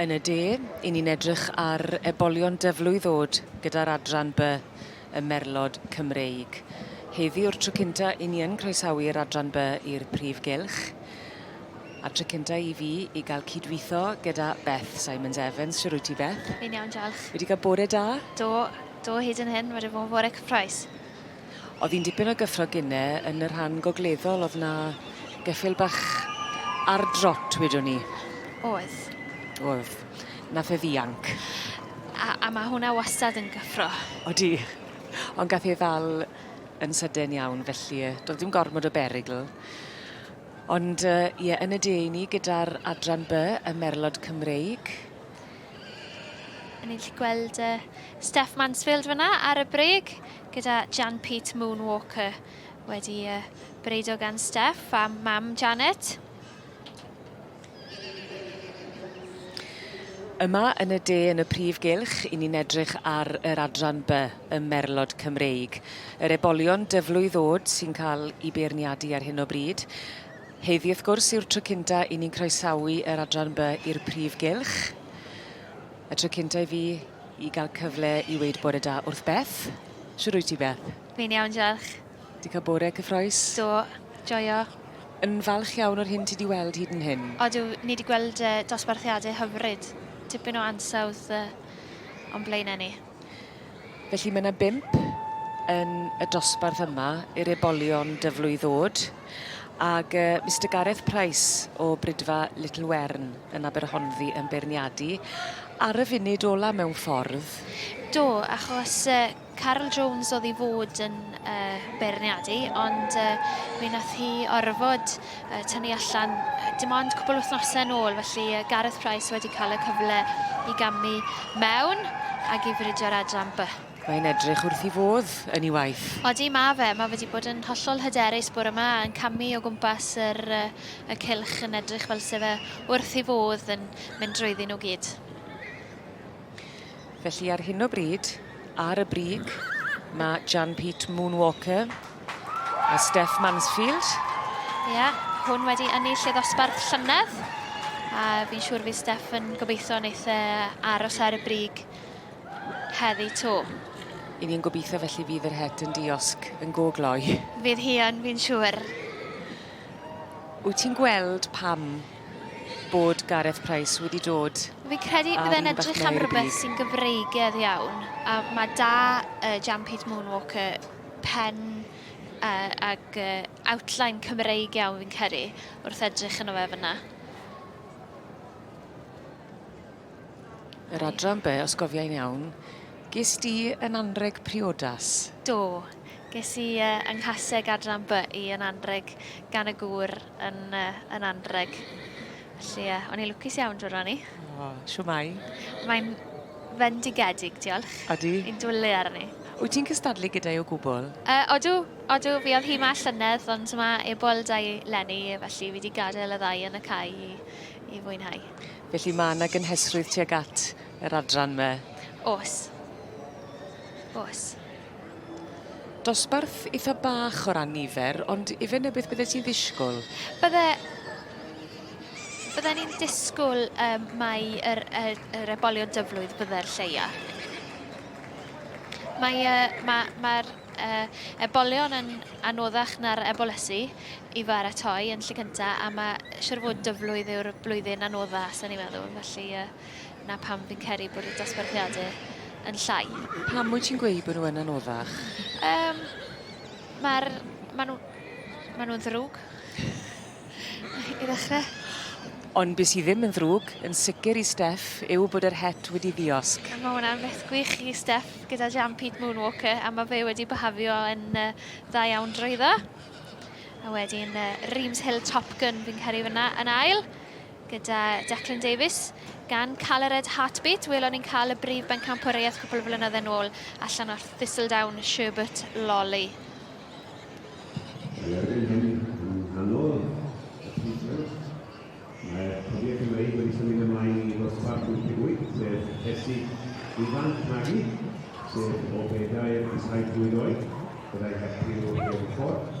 Yn y de, i ni'n edrych ar ebolion dyflwy ddod gyda'r adran by y merlod Cymreig. Heddi o'r tro cynta i ni yn croesawu'r adran by i'r prif gylch. A tro cynta i fi i gael cydweithio gyda Beth Simons Evans. Siwr wyt ti Beth? Fi'n iawn, diolch. Wedi cael bore da? Do, do hyd yn hyn, wedi bod yn bore cyffroes. O'dd un dipyn o gyffro gine yn y rhan gogleddol o'dd 'na geffyl bach ar drot wedwn i. O'dd. O'dd. Nath e ddianc. A a ma' hwnna wastad yn gyffro. Odi. Ond gath e 'i ddal yn sydyn iawn felly yy do'dd dim gormod o berygl. Ond yy ie yn y de i ni gyda'r adran By, y merlod Cymreig. A ni'n gallu gweld yy Steph Mansfield fanna ar y brêg gyda Jan Pete Moonwalker wedi yy breidio gan Steph a mam Janet. Yma yn y de yn y prif gylch, i ni'n edrych ar yr adran by ym merlod Cymreig. Yr ebolion dyflwydd ddod sy'n cael i beirniadu ar hyn o bryd. Heddi wrth gwrs yw'r tro cynta i ni'n croesawu yr adran by i'r prif gylch. Y tro cynta i fi i gael cyfle i weud bore da wrth Beth. Siwr wyt ti Beth? Fi'n iawn, diolch. Di cael bore cyffroes? Do, joio. Yn falch iawn o'r hyn ti di weld hyd yn hyn? Odw, ni di gweld dosbarthiadau hyfryd. Tipyn o ansawdd o'n blaenau ni. Felly mae 'na bump yn y dosbarth yma i'r ebolion dyflwy ddod ag yy Mister Gareth Price o Brydfa Little Wern yn Aberhonddu yn beirniadu ar y funud ola mewn ffordd. Do achos yy Carol Jones o'dd i fod yn yy beirniadu ond yy mi nath hi orfod yy tynnu allan yy dim ond cwbl wythnose yn ôl felly yy Gareth Price wedi ca'l y cyfle i gamu mewn ag i fridio ar adran by. Mae'n edrych wrth i fodd yn i waith. Odi ma fe, ma fe di bod yn hollol hyderus bore ma yn camu o gwmpas yr yy y cylch yn edrych fel se fe wrth i fodd yn mynd drwyddi nw gyd. Felly ar hyn o bryd, ar y brig, mae Jan Pete Moonwalker a Steph Mansfield. Ie, yeah, hwn wedi ynnu lle ddosbarth llynedd. A fi'n siŵr fi Steph yn gobeithio wneud e aros ar y brig heddi to. I ni'n gobeithio felly fydd yr het yn diosg yn go gloi. Fydd hi yn, fi'n siŵr. Wyt ti'n gweld pam bod Gareth Price wedi dod Fi'n credu bydd e'n edrych am rhywbeth sy'n gyfreigedd iawn, a mae da uh, Jan Pete Moonwalker pen uh, ag uh, outline Cymreig iawn fi'n credu wrth edrych yn o fe fyna. Yr adran be, os gofiau'n iawn, ges di yn anreg priodas? Do, ges i uh, yng nghaseg adran by i yn anreg gan y gŵr yn, uh, yn anreg. Felly, uh, o'n i lwcus iawn drwy'r rannu. O, oh, siw mai. Mae'n fendigedig, diolch. Odi. Yn dwlu arni. Wyt ti'n cystadlu gyda'i o gwbl? Uh, odw, odw, fi oedd hi ma llynedd, ond mae ebol da i lenni, felly fi wedi gadael y ddau yn y cae i, i fwynhau. Felly mae yna gynhesrwydd tuag at yr adran me? Os. Os. Dosbarth eitha' bach o ran nifer ond ife 'na beth byddet ti'n ddisgwl? Bydde... bydden i'n disgwl yym mai yr yy yr ebolion dyflwydd bydde'r lleia'. Mae yy ma' ma'r yy ebolion yn anoddach na'r ebolysu i baratoi yn lle cynta' a ma' siŵr o fod dyflwydd yw'r blwyddyn anodda' sa'n i'n meddwl felly yy 'na pam fi'n credu bod y dosbarthiade yn llai. Pam wyt ti'n gweud bod nhw yn anoddach? Um, Mae'r... Mae nhw... Mae nhw'n ddrwg. I ddechrau. Ond beth sydd ddim yn ddrwg, yn sicr i Steff, yw bod yr het wedi ddiosg. Mae hwnna'n beth gwych i Steff gyda Jam Pete Moonwalker, a mae fe wedi byhafio yn uh, dda iawn drwyddo. A wedyn uh, Reams Hill Top Gun fi'n caru fyna yn ail. gyda Declan Davies, gan Calered Heartbeat, welon ni'n cael y brif bencampwriaeth cwpl o flynydde nôl allan o'r Thistledown, Sherbert Lolly. Mae erbyn hyn yn nghanol y pwyslais. Mae Cofiau Cymreig wedi symud ymlaen i ddosbarth 88, sef rhesi ifanc magu, sef o bedair i saith mlwydd oed, fyddai heb criw rheilffordd.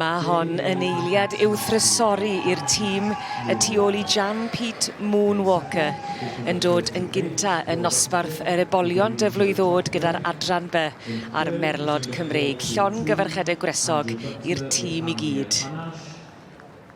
Mae hon yn eiliad i'w thrysori i'r tîm y tu ôl i Jan Pete Moon Walker yn dod yn gynta yn nosbarth yr ebolion dyflwydd oed gyda'r Adran By a'r Merlod Cymreig. Llon gyfarchedau gwresog i'r tîm i gyd.